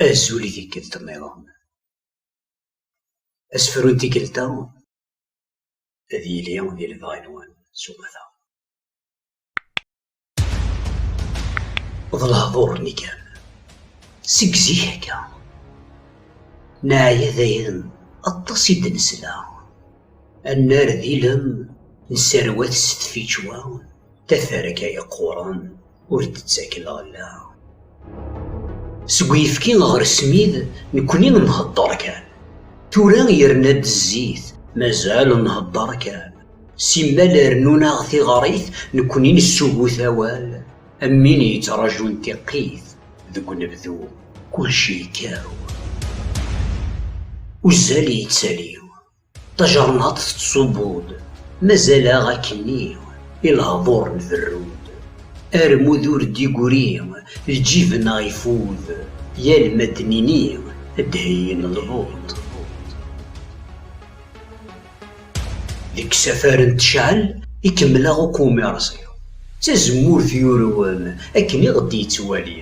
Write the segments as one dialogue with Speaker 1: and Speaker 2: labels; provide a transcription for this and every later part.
Speaker 1: Azul i tikkelt nniḍen. Asefru n tikkelt-a ad yili di lebɣi-nwen s umata. D lehduṛ-nni kan. Seg zik akka. Neɛya dayen aṭas i d-nesla. Annar d ilem nesserwat s tfičwa taferka yeqquṛen. ur d-tettak lɣella. Seg uyefki ɣer smid nekkni nhedder kan. Tura yerna-d zzit mazal nhedder kan. Simmal rennun-aɣ tiɣrit nekkni nessugut awal am win yettrajun tiqqit deg unebdu. Kulci yekkaw. Uzzal yettali. Tajernaṭ tettṣubbu-d, mazal-aɣ akkenni, i lehḍur nberru-d. Armud ur d-igri, lǧib-nneɣ ifud, yal ma d-nini ad d-heyyin lbuṭ. Deg usafar n tecɛel i kemmleɣ akk umiṛẓi, d tazemmurt yurwen akken i ɣ-d-yettwali.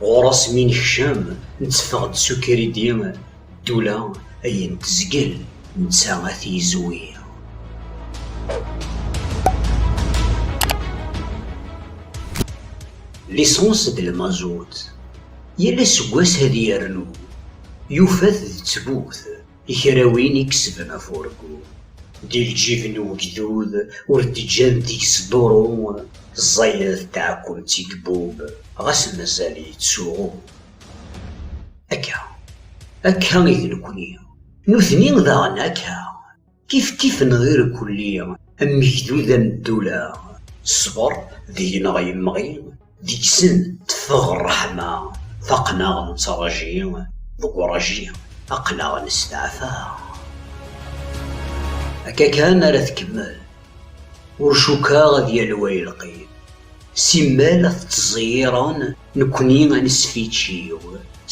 Speaker 1: Ɣur-s mi nekcem, netteffeɣ-d s ukridi. Ddula ayen tezgel netta ad t-yezwi. Lisans d lmazut, yal aseggas ad yernu, yufa-t d ttbut i kra win i yesben afurgu. Di lǧib n ugdud ur d-ǧǧan deg-s duṛu, ẓẓayed d tɛekkumt i yebub, ɣas mazal yettsuɣu. Akka, akka i d nekni. Nutni daɣen akka, kifkif neɣ irkelli, am ugdud am ddula. Ṣṣber deg-neɣ yemɣi, deg-sen teffeɣ ṛṛeḥma. Faqen-aɣ nettṛaǧi, deg uṛaǧi aql-aɣ nesteɛfa. Akka kan ara tkemmel, ur cukkeɣ ad yali wayelqi. Simmal ad t-ttẓeyyiṛen. Nekkni ad nesfiččiw.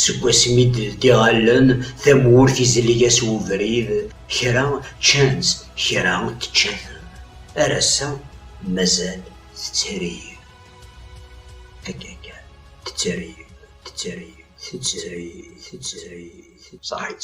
Speaker 1: Seg wasmi d-ldiɣ allen, tamurt izleg-as ubrid, kra ččan-tt, kra tečča-ten. Ar ass-a mazal tettrib. Akka kan, tettrib, tettrib, tettrib, tettrib, tettrib. Saḥit.